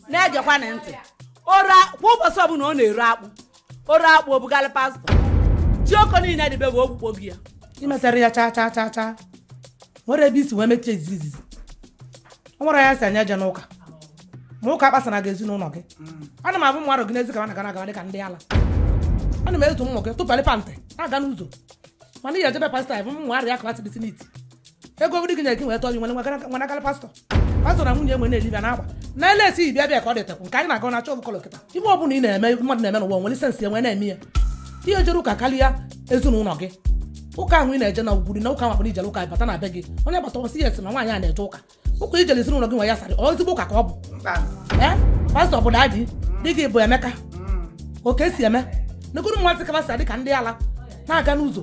na-egekwana ntị ora kwa ụbọchị ọbụla ọ na-ere akpụ o ree akpụ o bugalị pastọ jioko niile dịbe bụ ogbukpo gị ya imetara ya chaa chaa chaa chaa nwere ebe i si wee mechie izizi izizi o nwerọ onye sị onye ejena ụka ma ụka kpasara gị ezinụlọ gị ana m afụ mmadụ gị n'ezi ka na-aga na-aga dịka ndị ala ana m ezu ụmụ gị tụpalị pantị na-aga n'ụzọ mana ị ya-eje be pastọ bụ ụmụ arịa ka asị decent ego ove di gị nyere gị wee tọọ gị were nwanagara pastọ pastọ na nwunye ewee na-elive na-agba na lace bịa bịa ka ọ dịtekwu nke anyị na-aga na chọbụ kọlọ kịta ive ọ bụla ị na-eme mmadụ na-eme n'ụwa nwere sensị e wee na-eme ya i jere ụka karịa ezinụlọ gị ụka ahụ ị na-eje na ugwuri na ụka nwakpara i jele ụka bata na be gị onye gbata ọ sị ya esi na nwaanyị a na-eje ụka ụka i jele ezinụlọ gị nwa ya sarị ezigbo ụka ka ọ bụ ee pastọ bụ dadi di gị bụ emeka oke si eme negodu mmadụ ka va si adị ka ndị ala na-aga n'ụzọ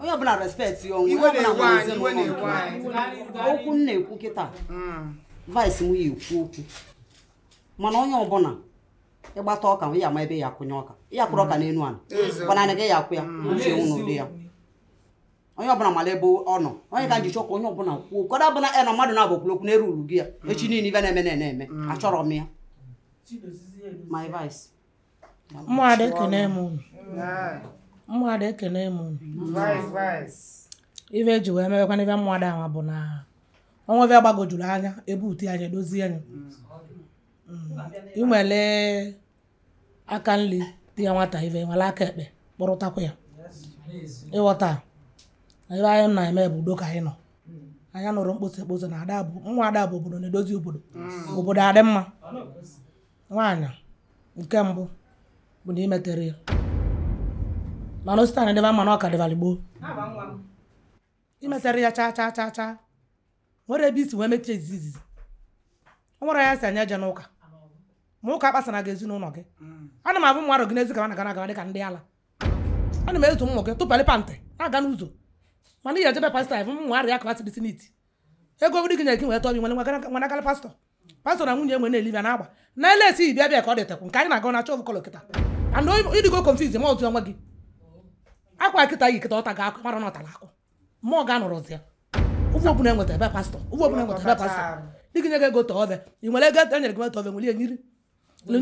onye ọbụla respekt ya onwe onye ọbụla nwere ezinụlọ okwu m na-ekwu kịta hmm. vice m ya ekwu okwu mana onye ọbụla ị gbata ọka ya ma ebe ya akwụnye ọka ya kwụrụ ọka hmm. n'elu ala gbanana gị ya akwụ ya hmm. uche nwụ n'ụdị ya onye ọbụla mara ebe ọ nọ onye ka njichọ ka onye ọbụla kwuo ụfọdụ ọbụla na mmadụ na-abụ kwuru okwu na-eru uru gị ya mm. echi niile ive na-eme na-eme eme mm. achọrọ m ya my vice ụmụada ekene m unu ụmụada ekene m unu ife eji wee mebekwa n'ife ụmụada ahụ bụ na o nwee ive gbagojuru anya e butie anya edozie anya mm. i wele aka nri tie nwata ive were aka ekpe kpọrọtakwa ya ị ghọta ive anyị na-eme bụ udo ka anyị nọ anyị anọrọ mkposa ekposa na ada bụ nwa ada bụ obodo na-edozi obodo mm. obodo adị mma nwaanyị nke mbụ bụ na imetere ya mana o si taa na-adịba mma na ọ ka dịbara gboo imetere ya chaa chaa chaa chaa nwere ebe i si wee mechie izizi izizi o nwerọ onye sị onye ejena ụka ma ụka kpasara gị ezinụlọ gị mm. ana m afụ mmadụ gị n'ezi ka na-aga na-aga dị ka ndị ala ana m ezu ụmụ gị tụpalị pantị na-aga n'ụzọ mana ị ya-eje be pastọ ya bụ m nwa arịa klasị decent ego ove di gị nyere gị wee tọọ gị were nwa gara pastọ pastọ na nwunye ewee na-elive na-agba na lace bịa bịa ka ọ dịtakwu nke anyị na-aga na achọ kọlọ kịta and ị dịgo konfiz ma ọzụ onwe gị akwa kịta yi kịta ọ ta ga-akụ mara na ọ tara akụ ma ọ ga-anọrọzi ya ụgwọ ọbụla enweta ebe pastọ ụgwọ ọbụla enweta ebe pastọ di gị nye gị ego tee ove i were ego enyere gị wee tee ove were ihe nyiri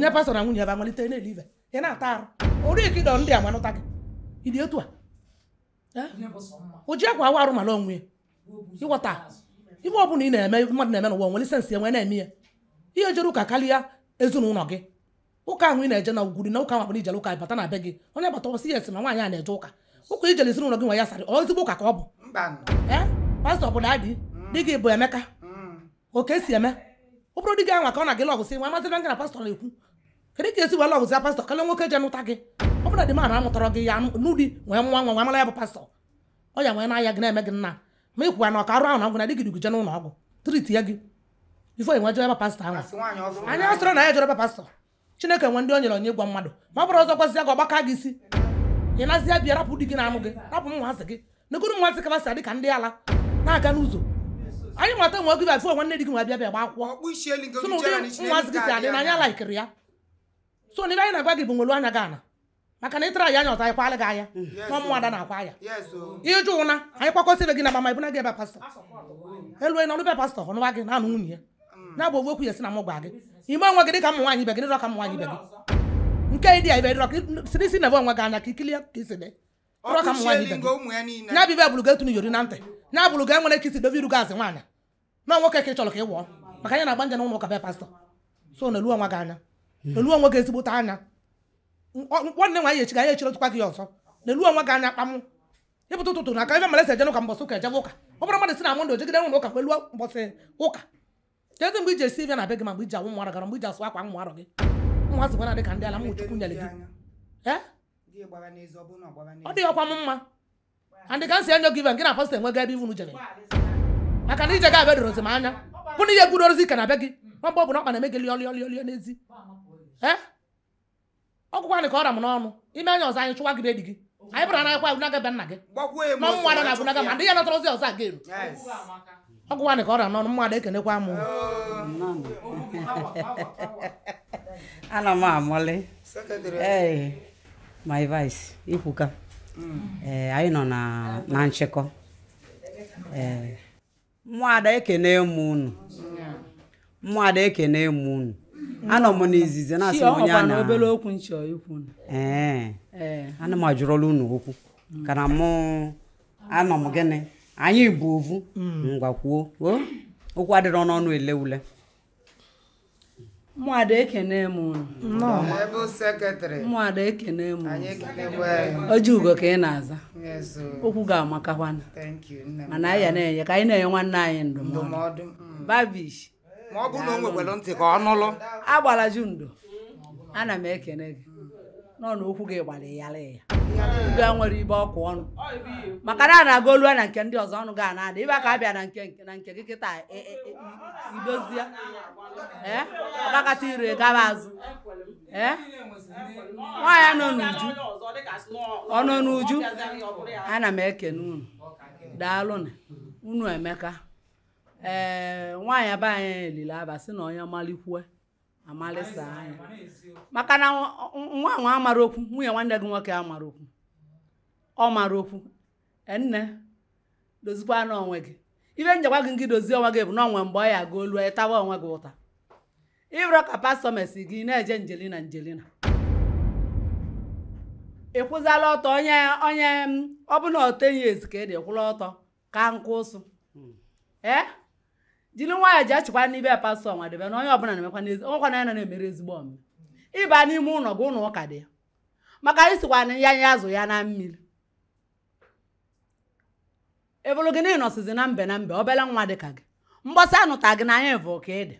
nye pastọ na nwunye ebe amalite na-elive ị na-ata arụ ori ka ịdọ ndị a manụta gị ị dị otu a o ji akwa awụ arụ mara onwe ya ịghọta ihe ọ bụla ị na-eme mmadụ na-eme n'ụwa nwere sensị e wee na-eme ya ihe jere ụka karịa ezinụlọ gị ụka ahụ ị na-eje na ugwuri na ụka ahụ akpara ijele ụka bata na be gị onye bata ọ sị yes na nwaanyị a na-eje ụka ụka ijele ezinụlọ gị nwa ya sarị ezigbo ụka ka ọ bụ ee pastọ bụ dadị di gị bụ Emeka oke si eme ọ bụrụ di gị anwa ka ọ na gị lọvụsị nwa amazị na gị na pastọ na-ekwu kedu ka i si wee lọvụzi pastọ karịa nwoke je nụta gị ọ bụrụ na dị mara amụtara gị ya n'ụdị nwee nwa nwa nwa mara ya bụ pastọ ọ ya wee na-aya gị na-eme gị nna ma ịkwụwa na ọka arụ ahụ na ngwụ na di gị du gị je n'ụlọ ọgwụ tritịa gị bifo e wee jere ebe pastọ ahụ anyị asịrọ na ya jere ebe pastọ Chineke nwe ndị o nyere onyinye ịgwọ mmadụ ma ọ bụrụ ọzọ gwazi ya ka ọ gbakaa gị isi ị nazi ya bịa rapụ di gị na-anụ gị rapụ ụmụazị gị negodu ụmụazị ka va si adị ka ndị ala na-aga n'ụzọ anyị mata nwe gị bịa nwanne di gị nwa bịa bịa gba akwụkwọ so na ụdị ụmụazị gị si adị na anyị alaikirọ ya so na ive anyị na-agwa gị bụ welu anya gị ana maka na ị traịa nya ọzọ anyị kwala gị anya nwa ụmụada na-akwa anya ị jụ ụna anyị kwakọsịbe gị na mama bunaa gị be pastọ elu onye nọlụ be pastọ ọ nụwa gị na-anụ nwunye ya mm. na-abụ ogwu okwu ya si na mụ gwa gị ime onwe gị dị ka ụmụ nwaanyị ibe gị dịrọ ka ụmụ nwaanyị ibe gị nke ịdị ya ibe dịrọ ka si n'isi nebe onwe gị anya ka i kili ya ka i si dị dịrọ ka ụmụ nwaanyị ibe gị ya bụ ive bụrụ gị etunu iyori na ntị ya bụrụ gị e nwere ka i si dobe iru gị azị nwaanyị na nwoke ka ị chọrọ ka ị wụọ maka na ị na-agba je n'ụlọ ụka be pastọ so neluo onwe gị anya hmm. neluo onwe gị ezigbote anya nwanne nwaanyị echi ga ya echiri tụkwa gị ọzọ neluo onwe gị anya kpamụ ị pụta ụtụtụ na aka ebe mara e si eje n'ụka mbọsị ụka e jebe ụka ọ bụrọ mmadụ si na Mọnde o jegide ụlọ ụka kweluo mbọsị ụka kedu mgbe i ji esi ive na be gị ma mgbe i ji awụ ụmụarọ gị arụ mgbe i ji asụ akwa ụmụarọ gị nwa sịkwa na dị ka ndị ala ụmụ Chukwu nyere gị ọ dịrọkwa m mma and ka m si enyo gị ive gị na pastọ enwego ebe ivunu jere maka na ije gị a bịa edorozi m anya bụ na ihe gwuru ozi ka na be gị nwa mgbe ọ bụla ọkpa na-eme gị lịọlịọlịọlịọ n'ezi ọgwụkwanị ka ọ ra m n'ọnụ i mee nya ọzọ anyị chụwa gị be di gị anyị bụrụ na anyịkwa ebunaga be nna gị gbakwuo ya nọ ụmụada na-ebunaga ma ndị ya natara ozi ọzọ a ga-eru Yes. ọgwụkwanị ka ọ ra m n'ọnụ ụmụada ekenekwa m ana m amụlị Secretary. ee my vice i kwuka ee anyị nọ na na nchịkọ ee ụmụada ekene m unu ụmụada ekene m unu anọ m n'izizi na-asị m onye a na obere okwu m chọ ikwu ee ee ana m ajụrụla unu okwu ka na mụ anọ m gịnị anyị bụ ovu ngwa kwuo o okwu adịrọ n'ọnụ ele ule ụmụada ekene m unu ụmụada ekene m Ojiugo ka ị na-aza okwu ga-amakakwana mana anyị ya na-enye ka anyị na-enye nwanne anyị ndụmọdụ mm. babish ma ọ bụrụ na o nwekwara ntị ka ọ nụlụ agbala ju ndo ana m ekene gị nọ na okwu gị gbara ịyara ya ga nwere ibe ọkụ ọnụ maka na a na-aga olu na nke ndị ọzọ ọnụ ga na-ada ibe ka a bịa na nke nke na nke gị kịta e, e, e, idozie ee ọkakata ire gaba azụ ee nwaanyị ọ nọ n'uju ọ nọ n'uju ana m ekene unu daalụ nụ unu emeka ee nwaanyị be anyị lile aba sị na onye malikwue amalịsa anya maka na nwa nwa amara okwu nwunye nwanne gị nwoke amara okwu ọ mara okwu e, nne dozikwanụ onwe gị ibe njekwa gị gị dozie onwe gị bụ na o nwe mgbe ọ ya aga o lu ị tawa onwe gị ụta ị bụrọ ka pastọ mesi gị na-eje njelina njelina ị kwụzala ọtọ onye onye ọ bụ na ọ ten years ka ị dị kwụla ọtọ ka nkụ ụsụ hmm. ee jiri nwayọọ ji achịkwa n'ibe ya pastọ nwadebe na onye ọbụla na-emekwa n'ezi onwekwa na ya na na-emere ezigbo omume ị ba n'ime ụlọ gị ụlọ ụka dị ya maka anyị sikwa na ya anya azụ ya na mmiri eburu gị na ị nọsizi na mbe na mbe obere nwa dị ka gị mgbọsị a nụta gị na anyị bụ ka ị dị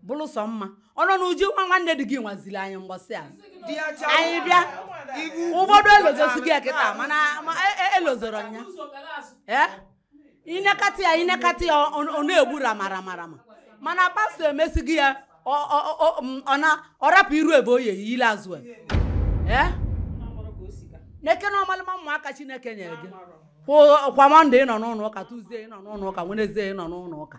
bụrụ sọ mma ọ nọ n'uju nwa nwanne di gị nwa ziri anyị mgbọsị a anyị bịa ụfọdụ elozosi gị kịta mana elozoro e, e ya i nekata ya i nekata ya ọ na-egbu ramaramarama mana pastọ emesi gị ya ọ rapụ iru ebe Oye yile azụ n'Eke na ọmalịma ụmụaka chineke nyere gị kwa mọnde ị nọ n'ụlọ ụka tuzdee ị nọ n'ụlọ ụka wenezdee ị nọ n'ụlọ ụka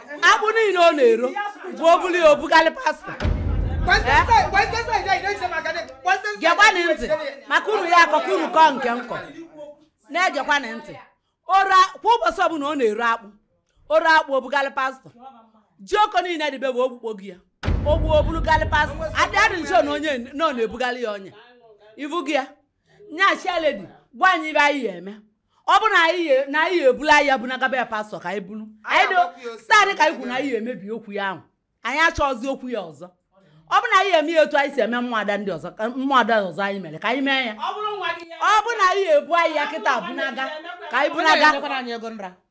akpụ niile ọ na-ero bụ o buli ya o bugalị pastọ gekwanị ntị maka unu ya akọ ka unu kọọ nke nkọ na-egekwanị ntị ora kwa ụbọchị ọbụla ọ na-ero akpụ o ro akpụ o bugalị pastọ ji ọ kọ niile dịbe bụ o gbukpo gị ya o gbu o burugalị pastọ adị adị nso na onye nọ na-ebugalị ya ọnya ibu gị ya nya chairlady gwa anyị ibe anyị ya eme ọ bụ na anyị ya- na anyị ya ebulu anyị ya bunaga be pastọ ka anyị bulu Anyị anyị agbapụ ya dị ose, staadị ka anyị kwuru na anyị ya emebi okwu ya ahụ anyị achọghịzi okwu ya ọzọ ọ bụ na anyị ya eme ya etu anyị si eme ụmụada ndị ọzọ ka ụmụada ọzọ anyị mere ka anyị mee ya ọ bụrụ nwa gị ya ọ bụ na anyị ya ebu anyị ya kịta bunaga ka anyị bunaga Onye nyekwara anyị ego nra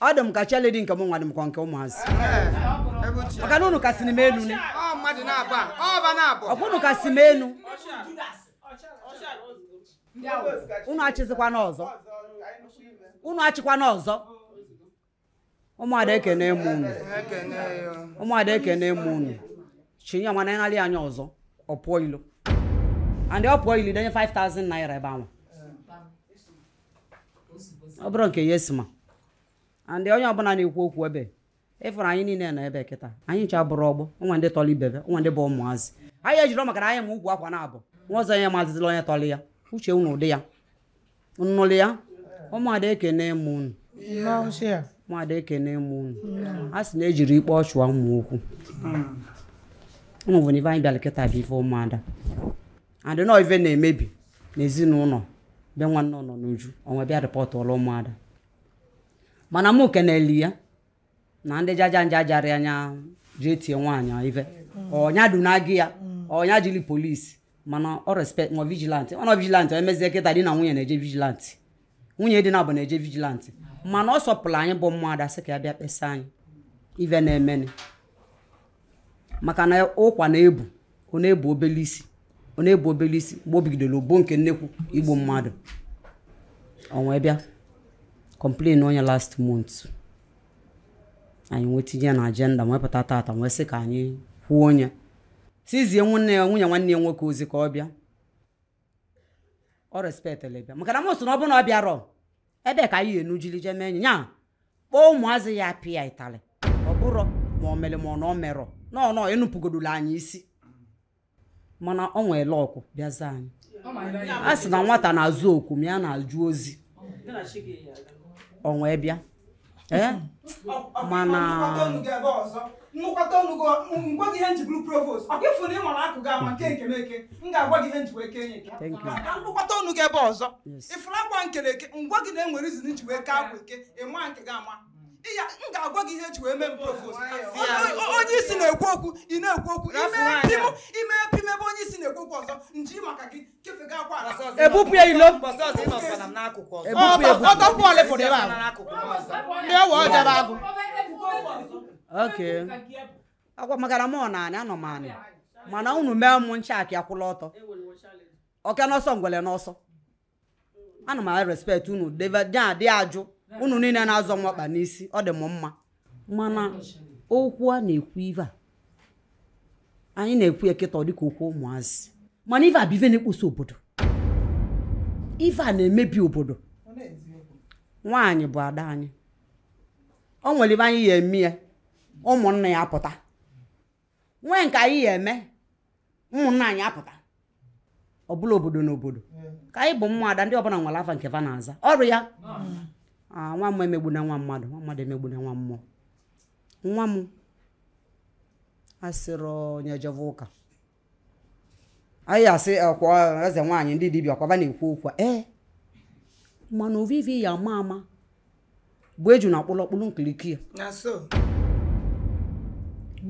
ọ dị m ka chairlady nke m nwa dị m ka nke ụmụazị maka na unu kasị m elu ni Ọ mmadụ na-abụ a, ọ ọba na-abụ. ọkwa unu kasị m elu unu achịzikwana ọzọ unu achịkwana ọzọ ụmụada ekene m unu Ekene ya. ụmụada ekene m unu chinye ọma na ịnarị anya ọzọ ọ pụọ ilo and ọ pụọ ilo denye 5000 naira ebe ahụ ọ bụrụ nke ya esima and onye ọbụla na-ekwu okwu ebe ịfụrụ anyị niile nọ ebe kịta anyị ncha abụrọ ọgbọ e nwee ndị tọrọ ibe e nwee ndị bụ ụmụazị anyị ejiri maka na anyị ma ugwu akwa na-abụ nwa ọzọ onye amazịna onye tọrọ ya uche unu ọ dị ya nnụlụ ya ụmụada ekene m unu ụmụada ekene m unu a sị na ejiri ikpe ọchụwa ụmụ okwu unu bụ na ife anyị bịara kịta bụ ife ụmụada and na ife na-emebi n'ezinụlọ be nwanne ọ nọ n'uju ọ wee bịa reportụọlụ ụmụada mana mụ keneli ya na ndị jaja nja jarị anya jee tie nwaanyị ife ọnya dunaga ya ọnya jili police mana ọ respect nwa vigilanti ọ nọ vigilanti emezie kịta di na nwunye na-eje vigilanti nwunye di naabọ na-eje vigilanti mana ọ sọpụrụ anyị bụ ụmụada sị ka ya bịa kpesa anyị ive na-emenụ maka na ọ kwa na-ebu ọ na-ebu obele isi ọ na-ebu obele isi mgbe o bigidoro ogbo nke nnekwu igbu mmadụ ọ wee bịa complain onye last month anyị wee tinye ya na agenda wee pụta tata wee sị ka anyị kwuo anyị zizie nwanne ya nwunye nwanne ya nwoke ozi ka ọ bịa ọ respectịlị bịa maka na m sị na ọ bụrụ na ọ bịarọ ebe ka anyị enujili je mee enyi ya kpọọ ụmụazị ya pịa ịtalị ọ bụrụ ma ọ mere ma ọ na ọ merọ no no enupụgodula anyị isi mana ọ nwere luck bịa za anyị a sị na nwata na-aza oku ma ya na-ajụ ozi ọ wee bịa ee mana m nụkwata ọnụ gị m gwa gị ihe m ji bụrụ provost ọ kwa ị fụrụ ị mara akwa gị ama m kee nke m eke m ga-agwa gị ihe m ji wee kee nya eke ka m nụkwata ọnụ gị ebe ọzọ ịfụrụ akwa m kelụ eke m gwa gị na e nwere reason m ji wee kee akwa eke ị ma nke gị ama ya m ga-agwa gị ihe e ji wee mee m provost onye isi na-ekwu okwu ị na-ekwu okwu i mee pim ebe onye isi na-ekwu okwu ọzọ nji maka gị ebupụ ya ilo ọtọpụ ole pụrụ ebe a ndị ọwa ọjọba agụ okay akwa maka na m ọ naanị anọ m anị mana unu mee m ncha akị akwụla ọtọ oke n'ọsọ ngwele n'ọsọ ana m respect unu dị ajụ unu niile na-azọ nwakpa n'isi ọ dị m mma mana okwu a na-ekwu ive a anyị na-ekwu ya kịta dịka okwu ụmụazị mana ive a bụ ive na-ekposa obodo ive a na-emebi obodo nwaanyị bụ ada anyị o nwere ive anyị ya-eme ya ụmụnna ya apụta nwee nke anyị ya eme ụmụnna anyị apụta ọ bụla obodo na obodo ka anyị bụ ụmụada ndị ọbụla nwere afa nke fa na-aza ọrụ ya Ah, nwa mmụọ emegbuna nwa mmadụ nwa mmadụ emegbuna nwa mmụọ nwa m asịrị onye jeve ụka anyị asị ọkwa eze nwaanyị ndị dibịa ọkwa va na-ekwu okwu a, ee mana ovu ive a ma ama bụ ejuna kpụlụ ọ kpụlụ nkiriko ya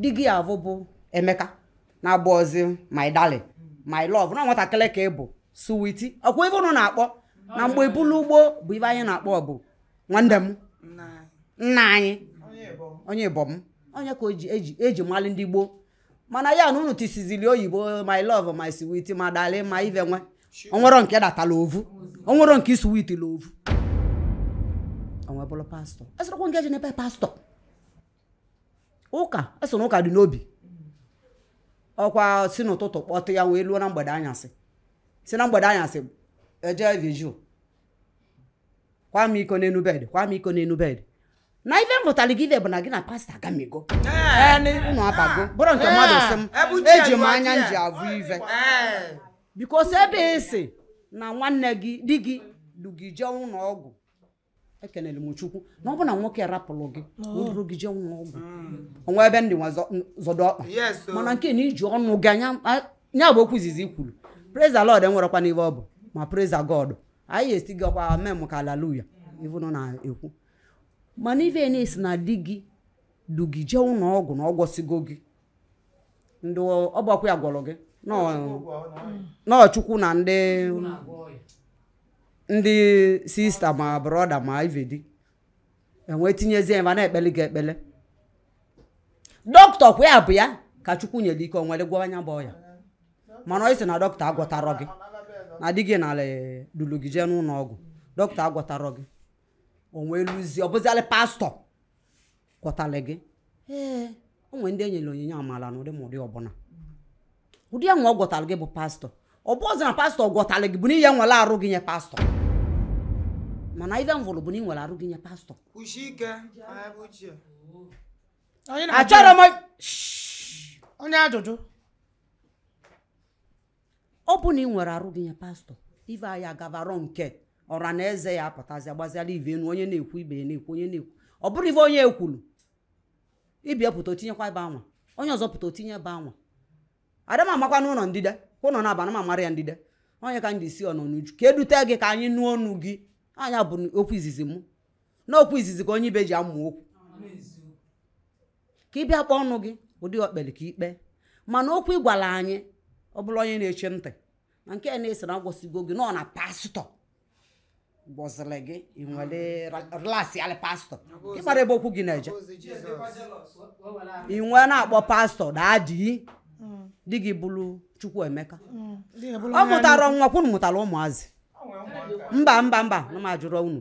di gị avụ bụ Emeka na-abụzi my darling my love na nwatakịrị ka ị bụ suwiti ọkwa ife ụnụ na-akpọ na mgbe ibulu ugbo bụ ife anyị na-akpọ bụ nwanne m nna anyị onye be m ọ nya ka eji mali ndị gboo mana ya na unu tisizili oyibo my love my sweet my darling my ive nwe onwero nke datala ovu onwero nke sweet la ovu o wee bụrụ pastọ esịrịkwa nke ji n'ebe pastọ ụka esi na ụka dị n'obi ọkwa si n'ụtụtụ kpọtụ ya wee luo na mgbede anyasị si na mgbede anyasị eje vigil kwa m iko n'enu bed kwa m iko n'enu bed na ife m vụtara gị ife bụ na gị na pastọ agamigo unu abago bụrụ nke mmadụ sị m eji m anya m ji avụ ife because ebe esi na nwanne gị di gị du gị jee ụlọ ọgwụ ekelere m chukwu na ọ bụ na nwoke rapụrụ gị na o duru gị jee ụlọ ọgwụ onwe ebe ndị nwa zọ- zọdọ ọkpa Yes, o. mana nke na iji ọnụ gị nya bụ okwu izizi i kwuru praise the lord enwerekwa n'ihe ọ bụ ma praise the god anyị asị gị ọkwa amen ka haleluya ive unu na-ekwu mana ife na-esi na di gị du gị jee ụlọ ọgwụ na ọ gwọsigo gị ndị ọ bụkwa ya gwọrọ gị na ọ chukwu na ndị ndị sista ma brọda ma ivedi e wee tinyezie ebe a na-ekpele gị ekpele dọkịta kwa ya bụ ya ka chukwu nyere ike o were gwọọ nya bụ ọya mana ị sị na dọkịta agwọtarọ gị na di gị nala dulu gị jee n'ụlọ ọgwụ dọkịta agwọtarọ gị o wee luzie ọ bụzialị pastọ gwọtala gị ee o nwere ndị enyere onyinye amala na ụdị ma ụdị ọbụla ụdị ya nwa ọ gwọtara gị bụ pastọ ọ bụzi na pastọ gwọtara gị bụ na ị ya-ewere arụ gị nye pastọ mana ife m vụrụ bụ na ị were arụ gị nye pastọ kwụsie ike anya bụ ochie Onye na-ajụ- achọrọ m onye ajụjụ ọ bụ na ị were arụ gị nye pastọ ive anyị agavarọ nke ọra na eze ya apụtazi agbaziala ive enu onye na-ekwu ibe ya na-ekwu onye na-ekwu ọ bụrụ ive onye ekwulu ibe ya pụta otinyekwa ebe anwa onye ọzọ pụta otinye ebe anwa ada m amakwa n'ụlọ ndịda kwa ụlọ na-aba na m amara ya ndịda onye ka m ji si ọnọ n'uju ka edute gị ka anyị nụ ọnụ gị nya bụ okwu izizi mụ na okwu izizi ka onye ibe ji amụ okwu ka ị bịa kpọọ ọnụ gị ụdị ọkpeli ka ikpe mana okwu ị gwara anyị ọ bụla onye na-eche ntị na nke na-ese na agwọsigo gị nọ na pastọ gọziri gị ị nwere lasị alị pastọ ị mara ebe okwu gị na-eje ị wee na-akpọ pastọ daddy di gị bụrụ Chukwuemeka ọ mụtara nwa kwunu mụtara ụmụazị mba mba mba na m jụrụ unu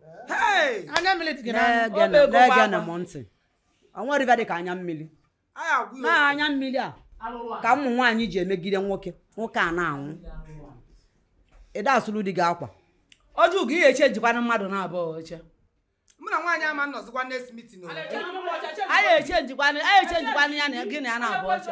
Hey! anya mmiri dị gị n'anya Ọ bụ ego na-ege na gbagba. m ntị o nwerọ ife dị ka anya mmiri Anyị agwụ ya na ose. anya mmiri a ka ụmụ nwaanyị ji emegide nwoke nwoke a na-anwụ ị da asụrụ di gị akwa Oju gị ihe eche jikwana mmadụ naabọ oche. Mụ na nwaanyị ama nọzikwa next meeting o. Anyị eche njikwana anyị eche njikwana ya na gị na ya naabọ oche.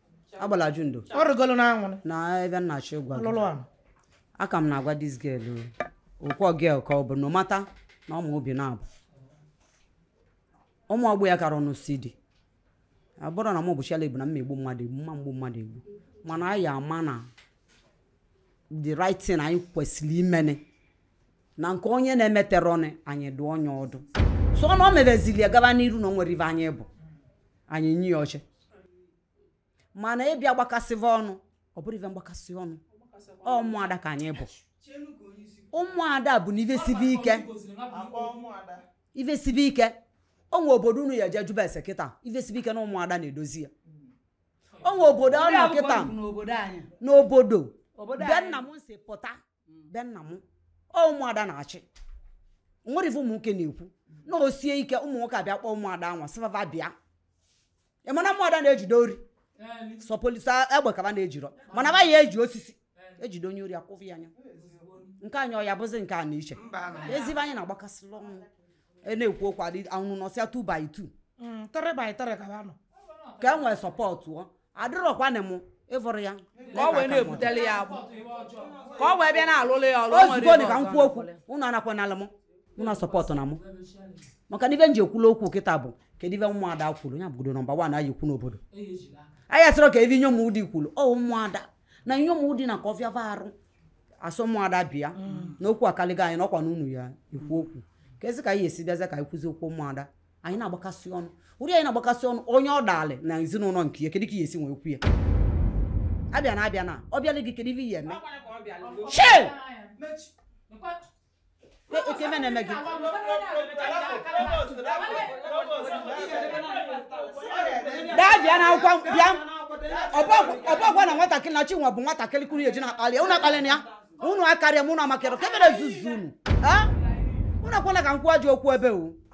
agbala ju ndo ọ rịgolo n'anwụrụ na ife m na-achọ ịgwa gị lụrụ anụ aka m na-agwa this girl okwu girl ka ọ bụ na mata na ọma obi na-abụ ụmụ ọgbọ ya kara ọnụ si dị ọ bụrụ na m bụchiala egbu na m egbu mmadụ egbu m ma egbu mmadụ egbu mana anyị ama na the right thing anyị kwesịrị imene na nke onye na-emeterọnụ anyị dụọ onye ọdụ so na ọ mebezili ya gaba n'iru na o nwere ife anyị bụ anyị nye ya oche mana ị bịa gbakasịva ọnụ ọ bụrụ ife mgbakasị ọnụ ọ ụmụada ka anyị bụ ụmụada bụ na ife sibe ike a kpọọ ụmụada ife sibe ike o nwe obodo unu ya-eje jụba ese kịta ife sibe ike na ụmụada na-edozi ya o nwe obodo ọ nọ kịta n'obodo anyị n'obodo obodo be nna m si pụta be nna m ọ ụmụada na-achị nwere ife ụmụ nwoke na-ekwu na o sie ike ụmụ nwoke abịa kpọọ ụmụada e wee sị va va bịa ị ma na ụmụada na-ejide ori sọ polisi egbe ka va na-ejirọ mana va ya-eji osisi ejide onye ori akwụfụ ya anya nke anyị ọ ya-abụzi nke a na iche ezibe anyị na-agbakasịla ọnụ e na-ekwu okwu adị anwụrụ nọsịa 2 by 2 Mm, 3 by 3 ka ha nọ ka e nwee support ọ adịrọkwanị m ịvụrụ ya ka ọ wee na-ebutele ya agbụ ka ọ wee bịa na-alụlụ ya ọrụ o nwere ozugbo ihe dị ka m ọzọ kwuo okwu na-alụlụ. unu anakwanala m unu support na mụ maka na ife m ji ekwula okwu kịta bụ kedu ife ụmụada kwuru ya bụgodo nọmba wan anyị kwu n'obodo anyị asịrọ ka ife inyom di kwuru ọ ụmụada na inyom di na ka ọ fịa va arụ a sị ụmụada bịa mm. na okwu akaligo anyị n'ọkwa n'unu ya-ekwu okwu kezi ka anyị esi bịaza ka anyị kwụzi okwu ụmụada anyị na-agbakasị ọnụ ụdị anyị na-agbakasị ọnụ onye ọ dalị na ezinụnọ nke ya kedu ka ya-esi wee kwuo ya abịa na abịa na ọ bịala gị kedu ife ị ya-eme nke m na-eme gị daa bịa na akwụkwọ bịa ọ bụkwa na nwatakịrị na Chinwe bụ nwatakịrị kwuru eji na-akpali unu akpali na ya unu akarịa m unu amakịrị ka emere zuzu unu unu akwala ka m kwuo ji okwu ebe o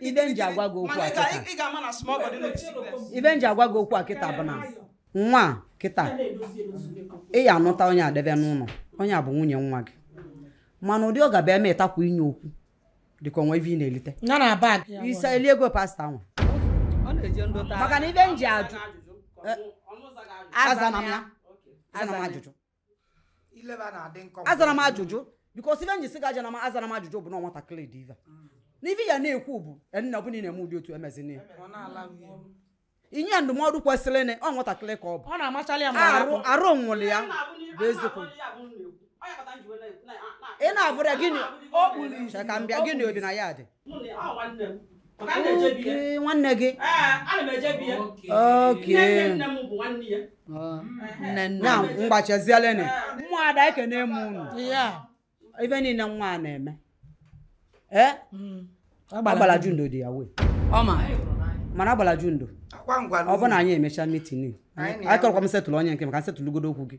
ive nji agwa gị okwu a ive nji agwa gị okwu a kịta bụ na nwa kịta ị ya anụta onye a debe n'ụnọ onye a bụ nwunye nwa gị mana ụdị ọ ga-abịa emetakwa inye okwu dịka o nwe ive ị na-elite iso eli ego pastọ nwa maka na ive nji ajụ azana m ya azana m ajụjụ ile ba na-adị nkọ azara m ajụjụ because ive nji sị gị azana m azara m ajụjụ bụ na nwatakịrị dị ive na ive ya na-ekwu bụ nna ọbụla ị na-eme ụdị otu emezina ya ọ na-ala nwunye m. inye ya ndụmọdụ kwesịrị na ọ nwatakịrị ka ọ bụ ọ na-amachalị ya ma arụ na-akpọ. arụ nwụrụ ya bụ eziokwu ị na-abụrụ ya gịnị O kpuru isi. Chere ka m bịa gịnị obi na ya dị nwanne gị ka m gbachazielenu ụmụada ekene m unu ive niile nwa a na-eme ee hmm. agbala jundo dị ya wee mana agbala jundo ọ bụ na anyị emecha meeting anyị tọrọkwa m setụlụ onye nke m ka m setụlụgodo okwu gị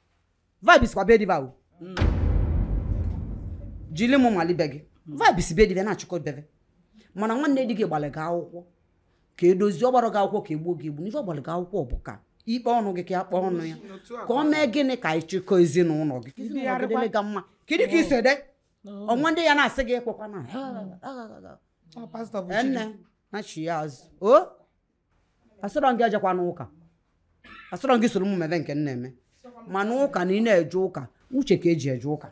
vibes kwa be di va o jili mụ mali be gị vibes be di va na-achịkọ bebe mana nwanne di gị gbalị gị akwụkwọ ka e dozie ọ gbarọ gị akwụkwọ ka e gbuo gị egbu n'ife ọ gbalụ gị akwụkwọ bụ ka i kpee ọnụ gị ka ya kpee ọnụ ya ka ọ mee gịnị ka anyị chịkọ ezinụlọ gị ka ezinụlọ gị dịrị gị mma kedu ka i si ede ọnwa ndị ya na-asị gị ekwekwana Ọ pastọ bụ chi gị. enne na chi ya azụ o asịrọ gị ejekwana ụka asịrọ gị solo m mebe nke m na-eme mana ụka na ị na-eje ụka uche ka eji eje ụka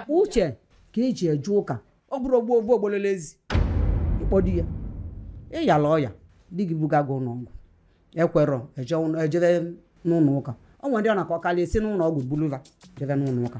uche ka eji eje ụka ọ bụrọ ogbo ogbo ogbolele ezi ịkpọdi ya ịyala ọya di gị buga gị ụnọ ọgwụ ekwerọ eje ụnọ- ejebe n'ụnọ ụka ọ nwere ndị ọ na-aka akalị e si n'ụnọ ọgwụ bulu va jebe n'ụnọ ụka